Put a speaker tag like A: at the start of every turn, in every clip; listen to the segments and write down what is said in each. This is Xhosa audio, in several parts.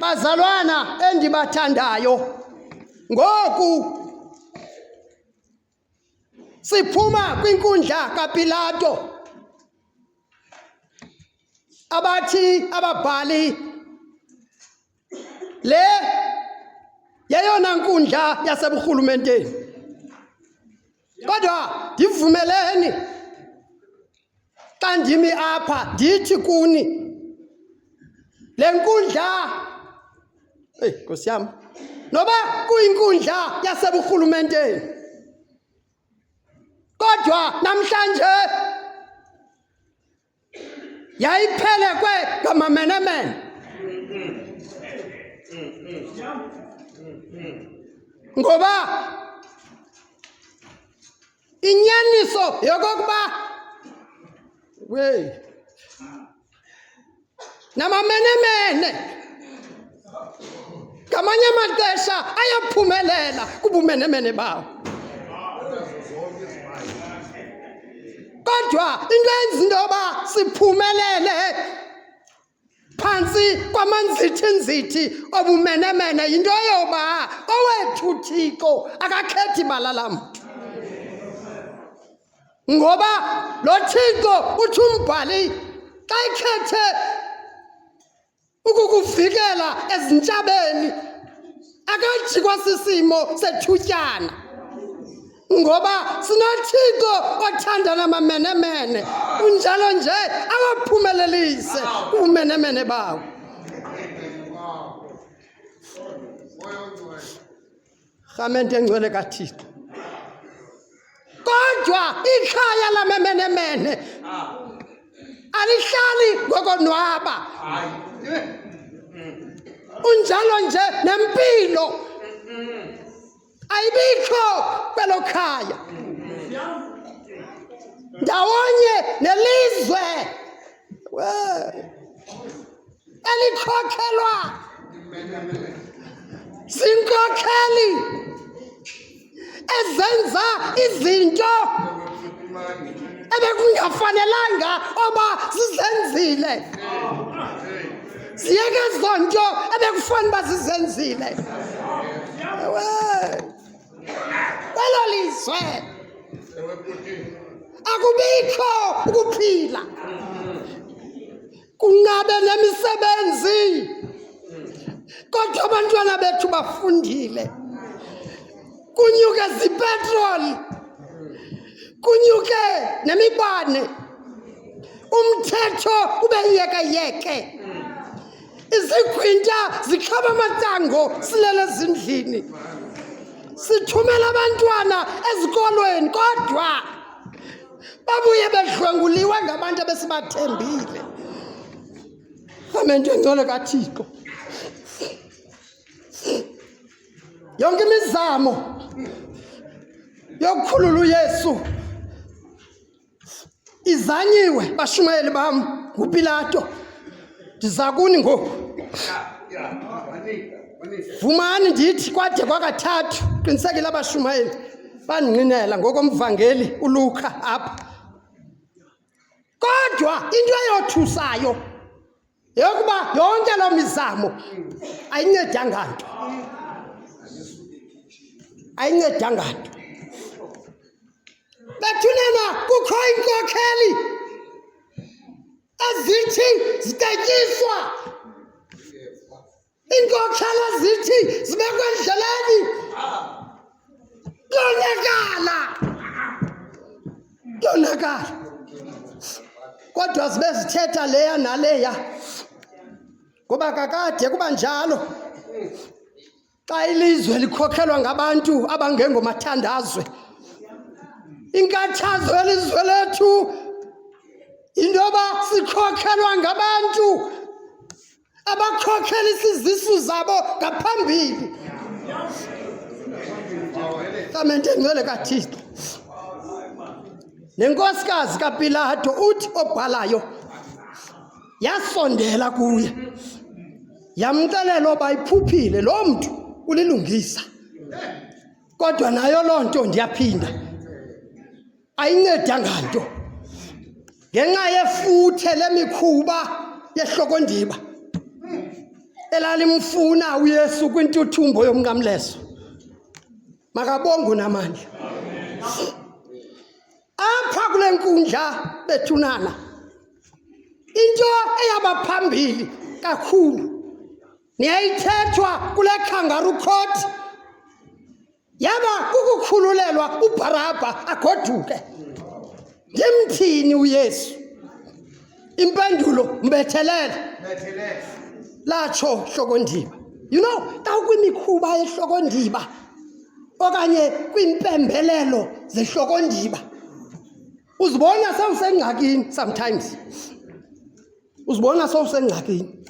A: Bazalwana endibathandayo, ngoku siphuma kwinkundla kaPilato abathi ababhali le yeyona nkundla yaseburhulumenteni Kodwa ndivumeleni xa ndimi apha ndithi kuni le nkundla eyi nkosi yam noba kuyinkundla yaseburhulumenteni kodwa namhlanje yayiphelekwe ngamamenemene ngoba inyaniso yokokuba wey namamenemene ngamanye amaxesha ayaphumelela kubumenemene bawo kodwa into enza into yoba siphumelele phantsi kwamanzithinzithi obumenemene yinto yoba owethu thixo akakhethi bala lamntu ngoba lo thixo uthi umbhali xa ikhethe ukukuvikela ezintshabeni akajikwa sisimo sethutyana ngoba sinothixo othandana mamenemene kunjalo nje awaphumelelise ubumenemene bawo Rhamente engcwele kaThixo. Kodwa ikhaya lamemenemene alihlali ngokonwaba. Unjalo nje nempilo ayibikho kwelo khaya. Ndawonye nelizwe. alikhokhelwa zinkokheli ezenza izinto ebekungafanelanga oba zizenzile ziyeke ezo nto ebekufanele uba zizenzile ewe kwelo lizwe akubikho ukuphila kungabe nemisebenzi kodwa abantwana bethu bafundile kunyuke zipetroli kunyuke nemibane umthetho ube yeke yeke Izigwinta zikhaba amatango silele ezindlini. Sithumela abantwana ezikolweni kodwa babuye bedlwenguliwe ngabantu abesibathembile. Amento engcwele kaThixo. Yonke imizamo yokukhulula uYesu izanyiwe bashumayeli bam ngupilato ndiza kuni ngoku vumani ndithi kwade kwakathathu qinisekile abashumayeli bandinqinela ngokomvangeli uluka apha kodwa into eyothusayo yeyokuba yonke loo mizamo ayincedanga nto ayincedanga nto bethunena kukho iinkokheli ezithi zitetyiswa Iinkokhela zithi zibekwe endleleni kuyonakala kuyonakala kodwa zibe zithetha leya naleya ngoba kakade kuba njalo xa ilizwe likhokhelwa ngabantu abangengomathandazwe inkathazo yelizwe lethu yinto yoba sikhokhelwa ngabantu abakhokhela isizisu zabo ngaphambili samente ngcwele kathixo nenkosikazi kapilato uthi obhalayo yasondela kuye yamxelela oba iphuphile loo mntu ulilungisa kodwa nayo loo nto ndiyaphinda ayincedanga nto ngenxa yefuthe lemikhuba yehlokondiba elalimfuna uyesu kwintuthumbo yomnqamleso makabongo namandla apha kule nkundla bethunana into eyaba phambili kakhulu niyayithethwa kule khangaru court yaba kukukhululelwa ubharabha agoduke ngimthini uyesu impendulo mbethelele latsho hlokondiba you know kawukwimikhuba yehlokondiba okanye kwiimpembelelo zehlokondiba uzibona sewusengxakini sometimes uzibona sewusengxakini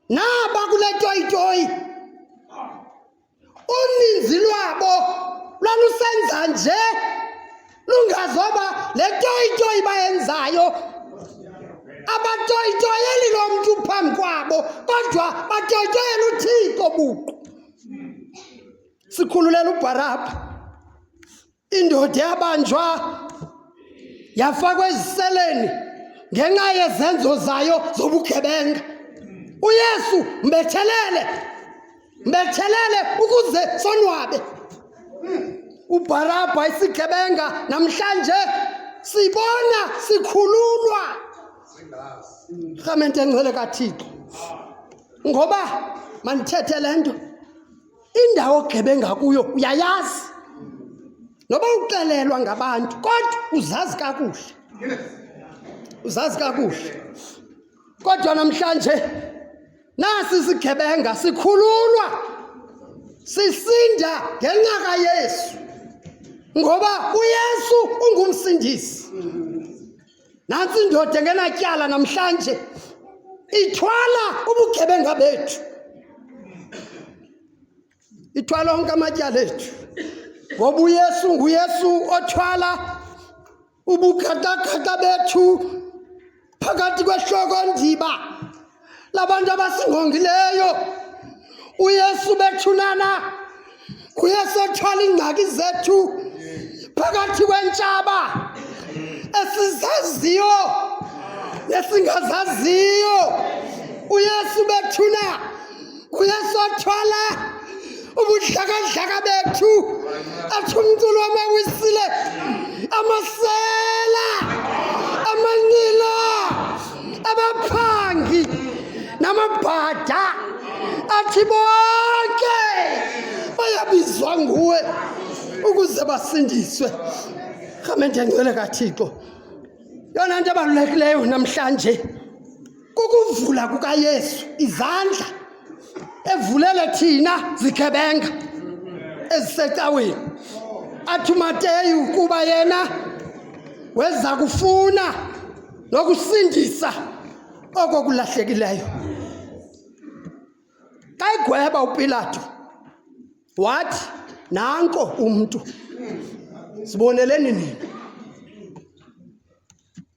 A: Naba kule toyitoyi uninzi lwabo lwalusenza nje lungazoba le toyitoyi bayenzayo abatoyitoyeli lo mntu phambi kwabo kodwa batoyitoyela uthixo buqu sikhululela ubharabha Indoda yabanjwa yafakwa eziseleni ngenxa yezenzo zayo zobugebenga. UYesu mbethelele, mbethelele ukuze sonwabe. UBharabha isigebenga namhlanje sibona sikhululwa. Rhamente engcwele kaThixo. Ngoba mandithethe le nto. Indawo ogebenga kuyo uyayazi. Noba uxelelwa ngabantu kodwa uzazi kakuhle. Uzazi kakuhle. Kodwa namhlanje nasi sigebenga sikhululwa sisinda ngenqaka Yesu ngoba uYesu ungumsindisi. Nantsi indoda engenatyala namhlanje ithwala ubugebenga bethu, ithwala onke amatyala ethu, ngoba uYesu nguYesu othwala ubukhatakata bethu phakathi kwehloko ndiba labantu abasingqongileyo uyesu bethunana uyesu ethwala iingxaki zethu phakathi kwentshaba esizaziyo nesingazaziyo uyesu bethuna kuyasothwala ubuhlakahlaka bethu athi umculo amawisile amasela amanila abaphangi namabhada athi bonke bayabizwa nguwe ukuze basindiswe rhamente ngcwele kathixo yona nto ebalulekileyo namhlanje kukuvula kukaYesu izandla evulele thina zikhebenga ezisecaweni athi uMateyu kuba yena weza kufuna nokusindisa oko kulahlekileyo xa egweba upilato wathi nanko umntu siboneleni nina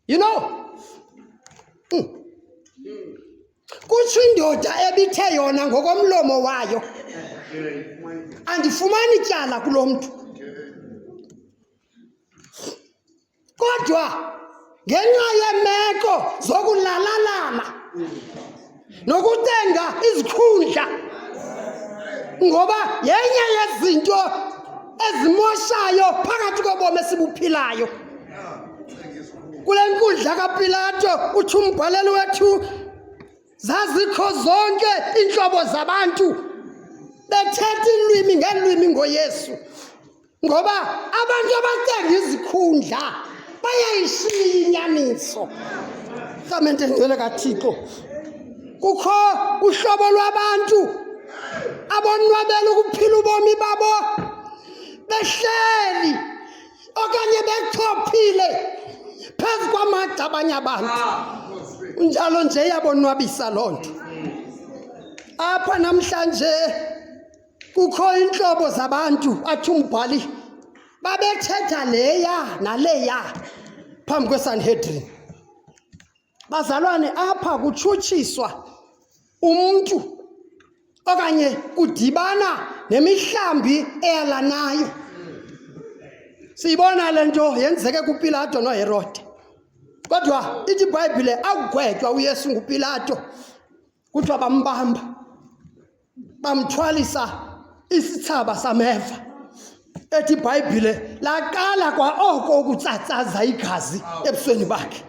A: You know? Mm. Kutsho indoda ebithe yona ngokomlomo wayo. Andifumani tyala kulo mntu. Kodwa ngenxa yeemeko zokulalalala. nokucenga izikhundla ngoba yenye yezinto ezimoshayo phakathi kobomi esibuphilayo kule nkundla kapilato uthi umbhaleli wethu zazikho zonke iintlobo zabantu bethetha iilwimi ngeelwimi ngoyesu ngoba abantu abacenga izikhundla bayayishiya inyaniso rhamente ngcwele kathixo kukho uhlobo lwabantu abonwabela ukuphila ubomi babo behleli okanye bechophile phezu kwamagxa abanye abantu njalo nje yabonwabisa loo nto apha namhlanje Kukho iintlobo zabantu athi umbhali babethetha leya naleya phambi kwesanhedrini bazalwane apha kutshutshiswa umntu okanye kudibana nemihlambi eyalanayo siyibona le nto yenzeke kupilato noherode kodwa ithi ibhayibhile akugwetywa uyesu ngupilato kuthiwa bambamba bamthwalisa isithsaba sameva ethi ibhayibhile laqala kwa oko ukutsatsaza igazi ebusweni bakhe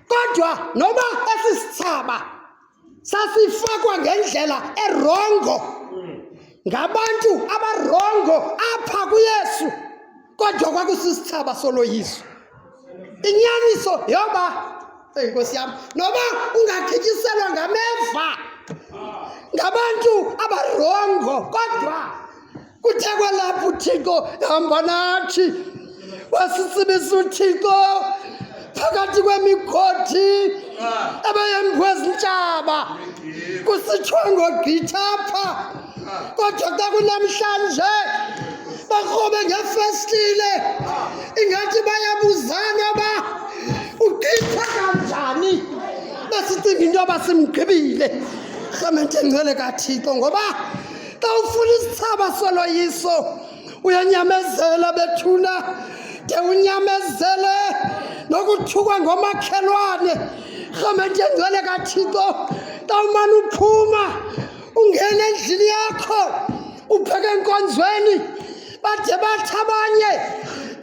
A: kodwa noba esi sithsaba sasifakwa ngendlela erongo ngabantu abarongo apha kuyesu kodwa kwakusisithaba soloyiso inyaniso yoba eyi nkosi yam noba ungagityiselwa ngameva ngabantu abarongo kodwa kuthe kwalapha uthixo hamba nathi wasisibisa uthixo phakathi kwemikhothi ebeyemkwe zintshaba kusitshwe ngogqitha apha kodwa xa kunamhlanje bakrobe ngefestile ingathi bayabuzana uba ugqitha kanjani besicinga into yoba simgqibile rhamente ngcwele kathixo ngoba xa ufuna isithaba soloyiso uyanyamezela bethuna de unyamezele nokuthukwa ngomakhelwane rhamente engcwele kathixo tawumane uphuma ungena endlini yakho ubheke enkonzweni bade bathi abanye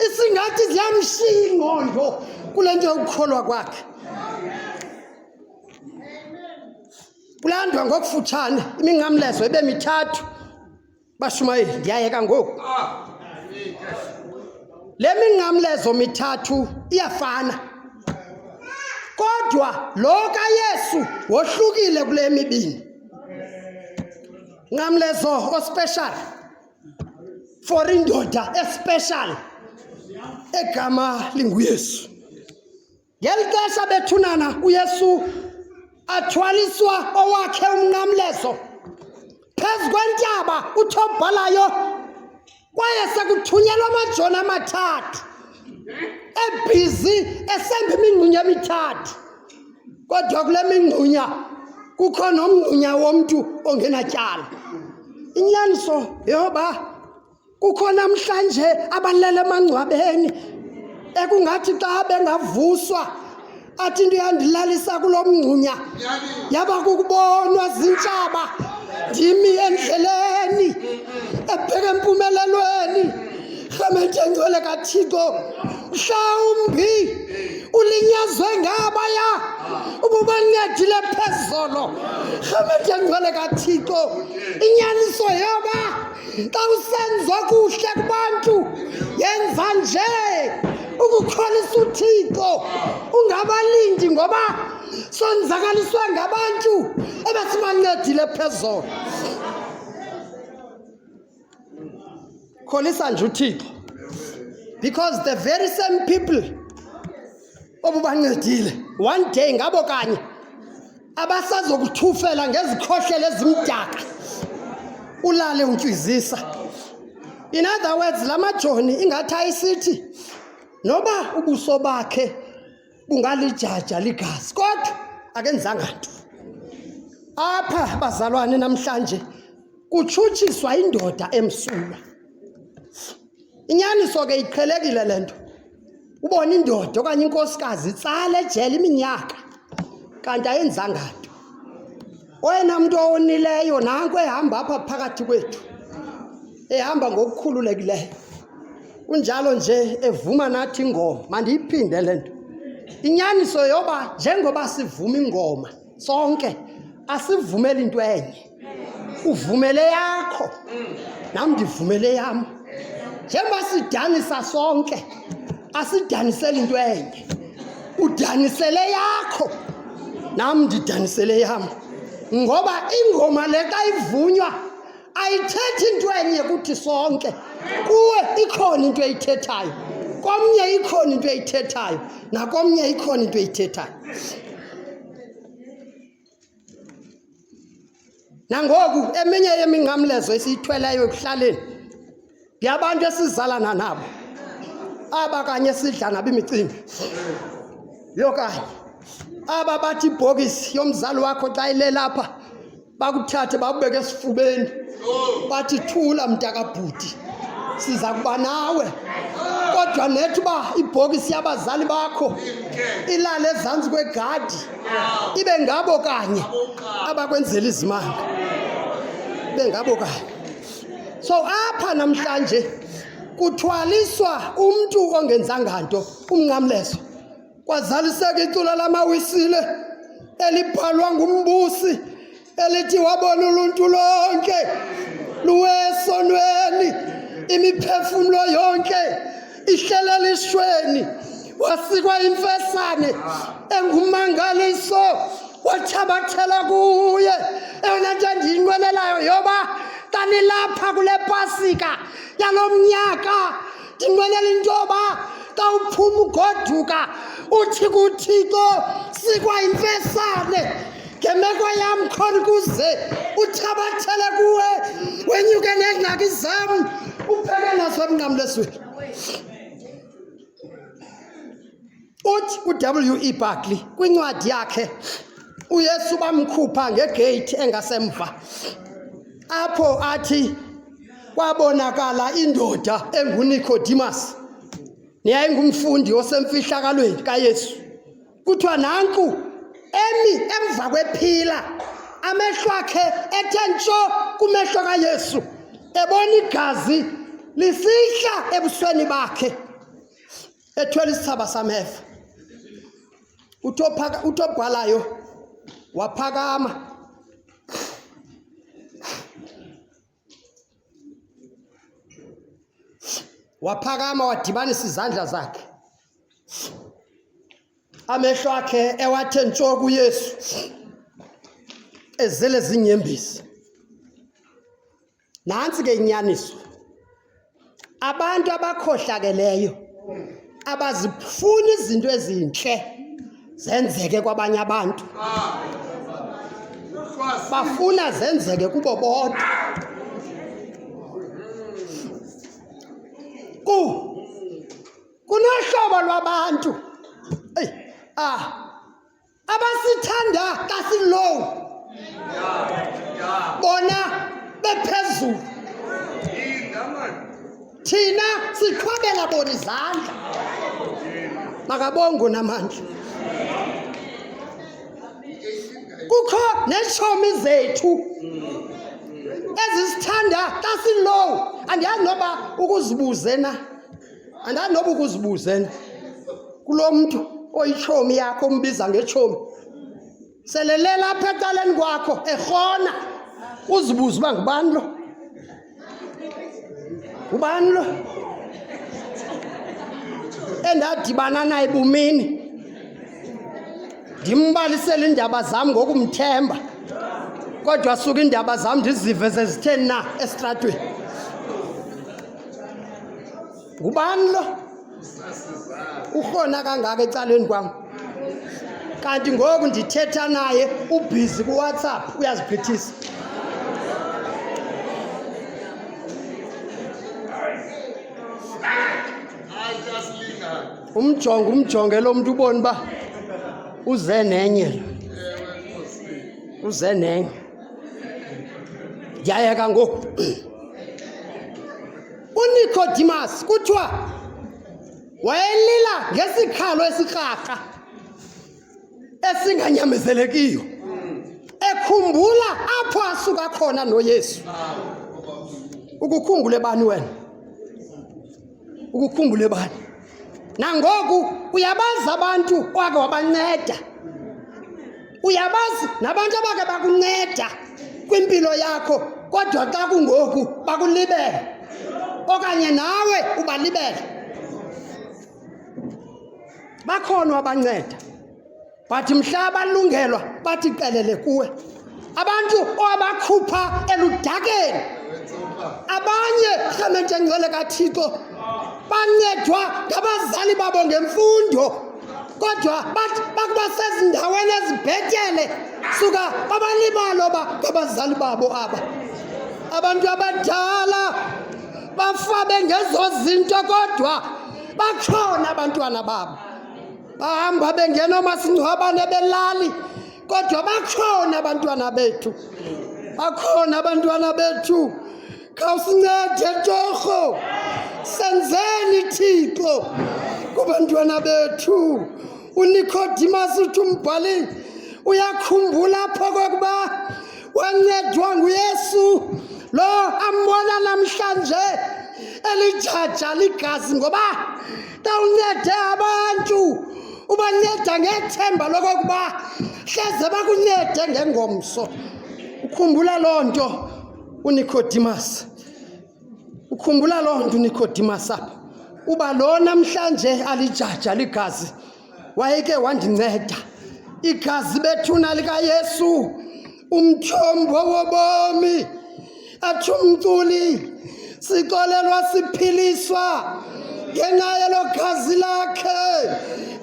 A: isingathi ziyamshiya ingqondo kule nto yokukholwa kwakhe kulandwa ngokufutshane iminqamlezo ibe mithathu Bashumayeli, ndiyayeka ngoku. Le minqamlezo mithathu iyafana. Kodwa lo kaYesu wohlukile kule mibini. Nqamlezo ospecial for indoda especial egama linguYesu. Ngeli xesha bethunana uYesu athwaliswa owakhe umnqamlezo phezu kwentaba uthobhalayo kwaye sekuthunyelwa amajoni amathathu ebhizi esemba imingxunya emithathu kodwa kule mingxunya kukho nomngxunya womntu ongenatyala inyaniso yeyoba Kukho namhlanje abalele emangcwabeni ekungathi xa bengavuswa athi into yandilalisa kulo mngxunya yaba kukubonwa zintshaba ndimi endleleni ebheke empumelelweni rhamente ngcwele kathixo mhlawumbi ulinyazwe ngabaya ububancedile phezolo rhamente ngcwele kathixo inyaniso yoba Xa usenza okuhle kubantu yenza nje ukukholisa uthixo ungabalindi ngoba sonzakaliswe ngabantu ebesibancedile phezolo kholisa nje uthixo because the very same people obubancedile one day ngabo kanye abasazokuthufela ngezikhohlelo ezimdaka ulale untywizisa in other words la majoni ingathi ayisithi noba ubuso bakhe bungalijaja ligazi kodwa akenzanga nto apha bazalwane namhlanje kutshutshiswa indoda emsulwa Inyaniso ke iqhelekile le nto. Ubona indoda okanye inkosikazi itsala ejele iminyaka kanti ayenzanga nto. Oyena mntu owonileyo nanko ehamba apha phakathi kwethu, ehamba ngokukhululekileyo. Kunjalo nje evuma nathi ingoma, mandiyiphinde le nto. Inyaniso yoba njengoba sivuma ingoma sonke asivumele into enye uvumele yakho nam ndivumele yam njengoba sidanisa sonke asidanisele into enye udanisele yakho nam ndidanisele yam ngoba ingoma le xa ivunywa ayithethi into enye kuthi sonke kuwe ikhona into eyithethayo komnye ikhona into eyithethayo nakomnye ikhona into eyithethayo nangoku eminye yeminqamlezo esiyithweleyo ekuhlaleni yabantu esizalana nabo aba kanye sidla nabo imicimbi yokanye aba bathi ibhokisi yomzali wakho xa ilelapha bakuthathe bakubeke esifubeni bathi thula mntakabhuti siza kuba nawe kodwa nethi uba ibhokisi yabazali bakho ilale ezantsi kwegadi ibe ngabo kanye abakwenzela izimanga ibe ngabo kanye So apha namhlanje kuthwaliswa umntu ongenzanga nto umnqamlezo kwazaliseka icula lamawisile elibhalwa ngumbusi elithi wabona uluntu lonke luwesonweni imiphefumlo yonke ihlelelishweni wasikwa imfesane engumangaliso wathabathela kuye eyona nto endiyinqwenelayo yoba kanilapha kule pasika yalo mnyaka ndinqwenela into yoba xa uphuma ugoduka uthi kuthixo sikwa imfesane ngemeko yam khona ukuze uthabathele kuwe wenyuke neengxaki zam upheke naso emnqamlesweni uthi uw e barkley kwincwadi yakhe uyesu bamkhupha ngegeyithi engasemva apho athi kwabonakala indoda engunikodimas neyayingumfundi osemfihlakalweni kayesu kuthiwa nanku emi emva kwephila amehlo akhe ethe ntsho kumehlo kayesu ebona igazi lisihla ebusweni bakhe ethwele isithaba sameva uthobhalayo waphakama waphakama wadibanisa izandla zakhe amehlo akhe ewathe ntsho kuyesu ezele zinyembezi nantsi ke inyaniso abantu abakhohlakeleyo abazifuni izinto ezintle zenzeke kwabanye abantu bafuna zenzeke kubo bodwa ku kunohlobo lwabantu eyi ah abasithanda kasilow bona bephezulu thina siqhwabela bona izandla makabongo namandla kukho neetshomi zethu ezisithanda kasilow andiyazi noba ukuzibuze na andani noba ukuzibuze nto kulo mntu oyitshomi yakho umbiza ngetshomi selelela apha ecaleni kwakho erhona uzibuze uba ngubani lo ngubani lo endadibana naye bumini ndimbalisele iindaba zam ngokumthemba kodwa suka iindaba zam ndizive zezitheni na esitratweni ngubani lo urhona kangaka ecaleni kwam kanti ngoku ndithetha naye ubhizi kuwhatsapp uyaziphethisa umjongo umjonge lo mntu uboni uba uze nenye uze nenye yayeka ngoku unikodimas kuthiwa wayelila ngesikhalo esirharha esinganyamezelekiyo ekhumbula apho asuka khona noyesu ukukhumbule bani wena ukukhumbule bani nangoku uyabazi abantu owake wabanceda uyabazi nabantu abake bakunceda kwimpilo yakho kodwa xa kungoku bakulibele okanye nawe ubalibele bakhona wabanceda But mhla balungelwa bathi qelele kuwe. Abantu owabakhupha eludakeni. Abanye rhamente ngcwele kaThixo bancedwa ngabazali babo ngemfundo kodwa bathi bakuba sezindaweni ezibhetele suka babalibalo ba ngabazali babo aba abantu abadala bafabe ngezo zinto kodwa bakhona abantwana babo bahamba bengena omasingcwabane belali kodwa bakhona abantwana bethu bakhona abantwana bethu khawusincede torho senzeni thixo kubantwana bethu unikhodimas uthi umbhali uyakhumbula apho kokuba wancedwa nguyesu lo ambona namhlanje elijaja ligazi ngoba Tawuncede abantu ubanceda ngethemba lokokuba hleze bakuncede ngengomso. Ukhumbula loo nto uNicodemus. Ukhumbula loo nto uNicodemus apha. Uba lo namhlanje alijaja ligazi. wayeke wandinceda. Igazi bethuna likaYesu, umtyhombo wobomi, athi umculi, sixolelwa siphiliswa ngenxa yelo gazi lakhe.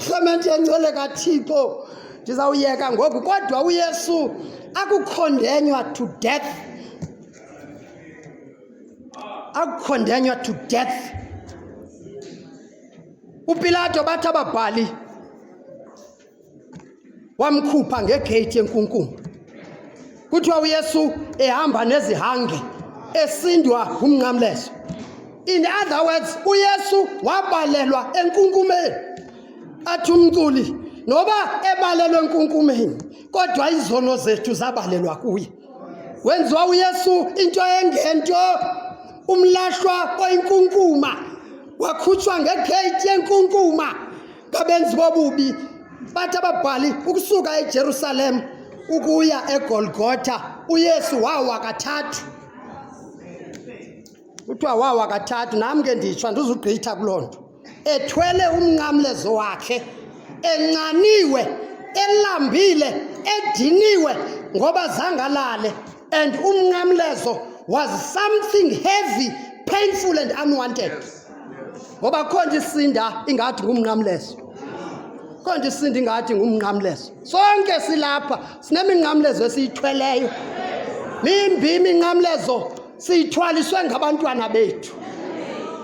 A: Rhamente yencele kaThixo, ndizawuyeka ngoku kodwa uYesu akukhondenywa to death. Akukhondenywa to death. UPilato bathi ababhali wamkhupha ngegeyithi yenkunkuma kuthiwa uyesu ehamba nezihange esindwa ngumnqamlezo in other words uyesu wabalelwa enkunkumeni athi umculi noba ebalelwe enkunkumeni kodwa izono zethu zabalelwa kuye wenziwa uyesu into engento umlahlwa oyinkunkuma wakhutshwa ngegeyithi yenkunkuma ngabenzi bobubi bathi ababhali ukusuka ejerusalem ukuya egolgotha uyesu wawa kathathu kuthiwa wawa kathathu nam ke nditsho andizugqitha kuloo nto ethwele umnqamlezo wakhe encaniwe elambile ediniwe ngoba zangalale and umnqamlezo was something heavy painful and unwanted ngoba kho nje isinda ingathi ngumnqamlezo kho nje isinda ingathi ngumnqamlezo sonke silapha sineminqamlezo esiyithweleyo mimbi iminqamlezo siyithwaliswe ngabantwana bethu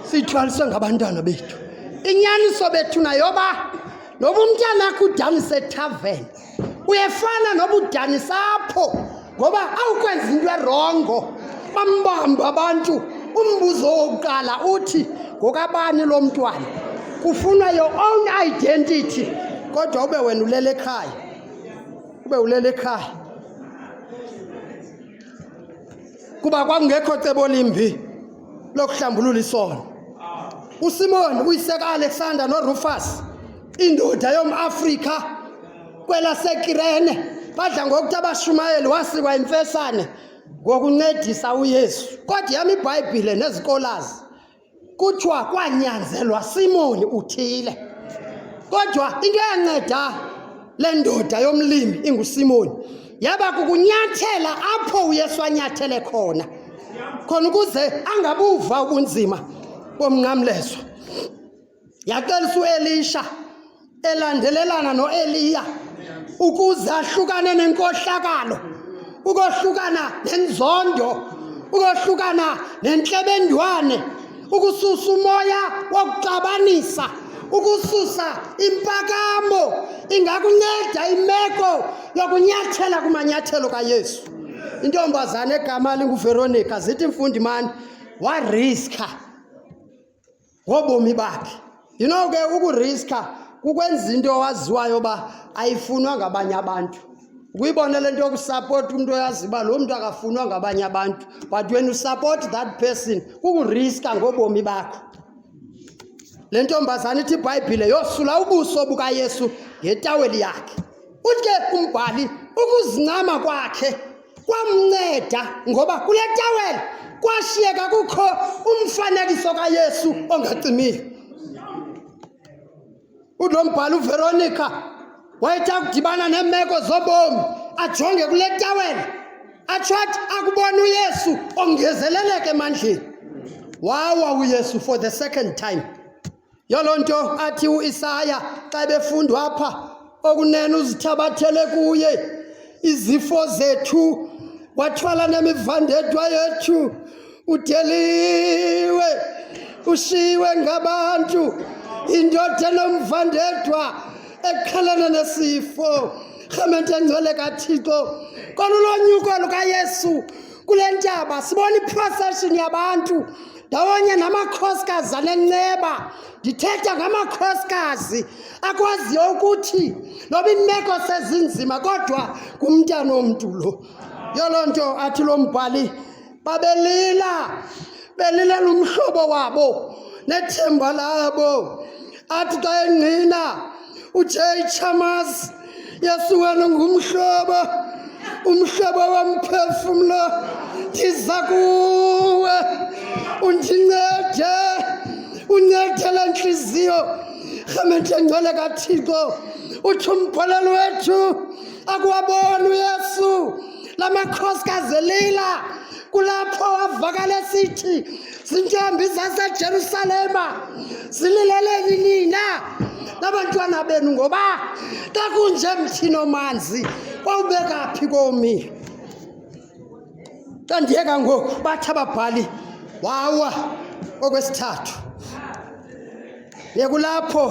A: siyithwaliswe ngabantwana bethu inyaniso bethu nayoba noba umntanakho udanisa ethaveni uyefana noba udanisa apho ngoba awukwenza into erongo bambamba abantu umbuzo wokuqala uthi ngokabani lo mntwana kufunwa your own identity kodwa ube wena ulele ekhaya ube ulele ekhaya kuba kwakungekho cebo limbi lokuhlambulula isono usimoni uyiseka alexander norufus indoda yomafrika kwelasekirene badla ngokuthi abashumayeli wasikwa imfesane ngokuncedisa uyesu kodwa yami ibhayibhile nezikolazi Kuthiwa kwanyanzelwa Simoni uthile. Kodwa into eyanceda le ndoda yomlimi inguSimoni yaba kukunyathela apho uYesu anyathele khona khona ukuze angabuva ubunzima bomnqamlezo. Yaqalisa uElisha elandelelana noEliya ukuze ahlukane nenkohlakalo, ukohlukana nenzondo, ukohlukana nentlebendwane, ukususa umoya wokuxabanisa, ukususa impakamo ingakunceda imeko yokunyathela kumanyathelo kaYesu. Intombazana egama linguVeronica zithi mfundi mani wariska ngobomi bakhe you know ke ukuriska kukwenza into owaziwayo uba ayifunwa ngabanye abantu ukuyibona le nto yokusapota umntu oyazi uba loo mntu akafunwa ngabanye abantu but when usupport that person kukuriska ngobomi bakho le ntombazana ithi ibhayibhile yosula ubuso bukayesu ngetaweli yakhe Uthe umbhali ukuzincama kwakhe kwamnceda ngoba kule tawela kwashiyeka kukho umfanekiso kaYesu ongacimile. Ulo mbhali uVeronica wayethe akudibana neemeko zobomi ajonge kule tawela atsho athi akubona uYesu ongezeleleke emandleni. Wawa uYesu for the second time. Yoloo nto athi uIsaya xa befundwa apha okunene uzithabathele kuye izifo zethu wathwala nemivandedwa yethu udeliwe ushiwe ngabantu indoda enomvandedwa eqhelene nesifo rhamente engcwele kathixo kwanulonyuko lukayesu kule ntaba sibona iprocession yabantu ndawonye namakhosikazi anenceba ndithetha ngamakhosikazi akwaziyo ukuthi noba imeko sezinzima kodwa ngumntana omntu lo yoloo nto athi lo mbhali babelila belilela umhlobo wabo nethemba labo athi xa engqina uJaychamas Yesu wena ngumhlobo umhlobo womphefumlo ndiza kuwe undincede uncede le ntliziyo rhamente ngcwele kathixo uthi umbholelo wethu akuwaboni uyesu la makhosikazi elila kulapho wavakala esithi Zintombi zaseJerusalema zilileleni nina nabantwana benu ngoba xa kunje mthini omanzi kwawubeka phi komi xa ndiyeka ngoku bathi ababhali wawa okwesithathu yekulapho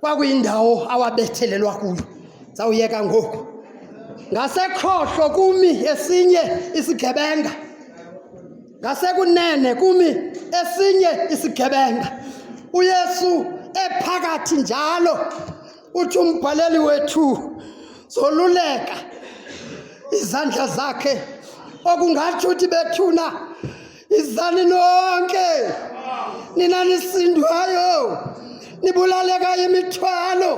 A: kwakuyindawo awabethelelwa kuyo zawuyeka ngoku ngasekhohlo kumi esinye isigebenga Ngasekunene kumi esinye isigebenga, uYesu ephakathi njalo, uthi umbhaleli wethu zoluleka izandla zakhe okungatsho uthi bethuna izani nonke nina nisindwayo nibulaleka imithwalo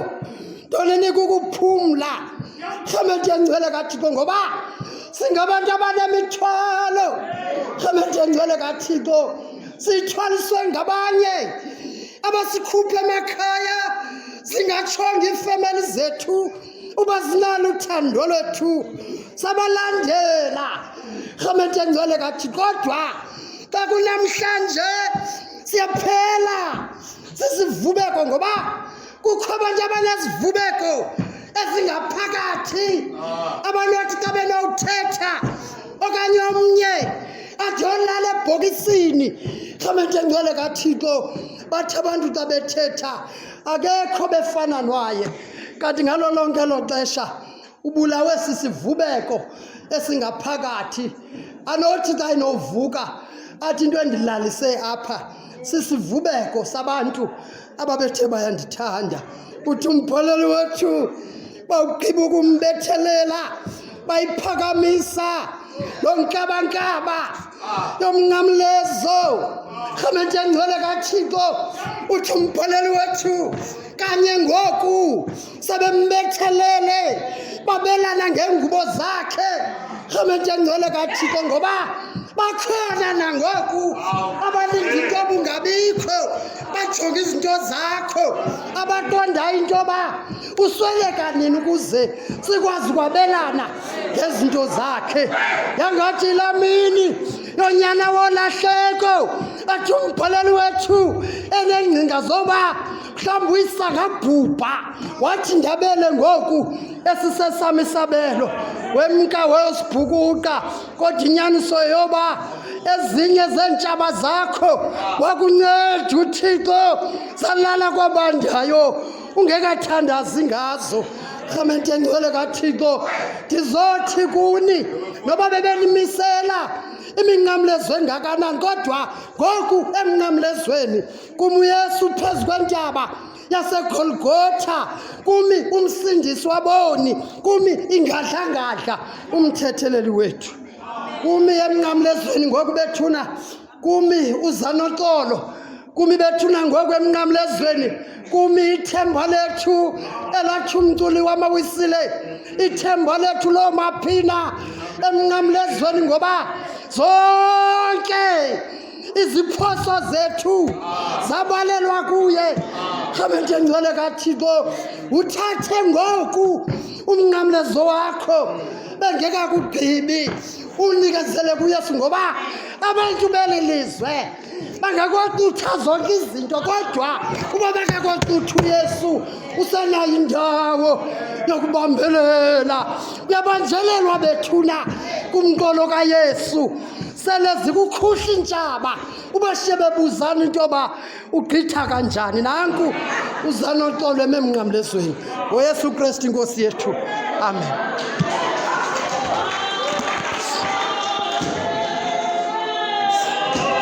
A: ntoni nikukuphumla hlometengcwele kathixo ngoba singabantu abanemithwalo hlometengcwele kathixo sithwaliswe ngabanye abasikhuphe emakhaya singatshonga iifemeli zethu uba sinalo uthando lwethu sabalandela rhamente engcwele kathi kodwa xa kunamhlanje siyaphela sisivubeko ngoba kukho abantu abanezivubeko ezingaphakathi ah. abanothi xa benowuthetha okanye omnye ajolala ebhokisini xamente ngcwele kathixo bathi abantu xa bethetha akekho befana nwaye kanti ngalo lonke elo xesha ubulawe sisivubeko esingaphakathi anothi xa inovuka athi into endilalise apha sisivubeko sabantu ababethe bayandithanda uthi umpholeli wethu bawugqiba ukumbethelela bayiphakamisa lo nkabankaba yomnqamlezo rhamente engcwele kathixo uthi umpholeli wethu kanye ngoku sebembethelele babelana ngeengubo zakhe rhamente engcwele kathixo ngoba bakhona nangoku abalinda into obungabikho bajonga izinto zakho abatondayo into yoba usweleka nini ukuze sikwazi ukwabelana ngezinto zakhe yangathi la mini yonyana wolahleko athi umbhaleli wethu enengcinga zoba mhlawumbi uyisangabhubha wathi ndabele ngoku esisesam isabelo wemka weyosibhukuqa kodwa inyaniso yoba ezinye zeentshaba zakho wakunceda uthixo salala kwabandayo ungekathandazi ngazo rhamente engcwele kathixo ndizothi kuni noba bebenimisela iminqamlezo engakanani kodwa ngoku emnqamlezweni Kum uYesu phezu kwentaba yaseGolgotha, kumi umsindisi waboni, kumi ingadlangadla umthetheleli wethu. Kumi emnqamlezweni ngoku bethuna, kumi uzanoxolo, kumi bethuna ngoku emnqamlezweni kumi ithemba lethu elathi umculi wamawisile ithemba lethu loo maphina emnqamlezweni ngoba zonke iziphoso zethu zabalelwa kuye hamente ngcwele kathixo uthathe ngoku umnqamlezo wakho bengekakugqibi unikezele kuyesu ngoba abantu beli lizwe bangakocutha zonke izinto kodwa uba bangakocutha uyesu usenayo indawo yokubambelela uyabanjelelwa bethuna kumqolo kayesu sele zikukhuhla iintshaba ubashiye bebuzana into yoba ugqitha kanjani nanku uzanoxolo ememnqamlezweni ngoyesu kristu inkosi yethu amen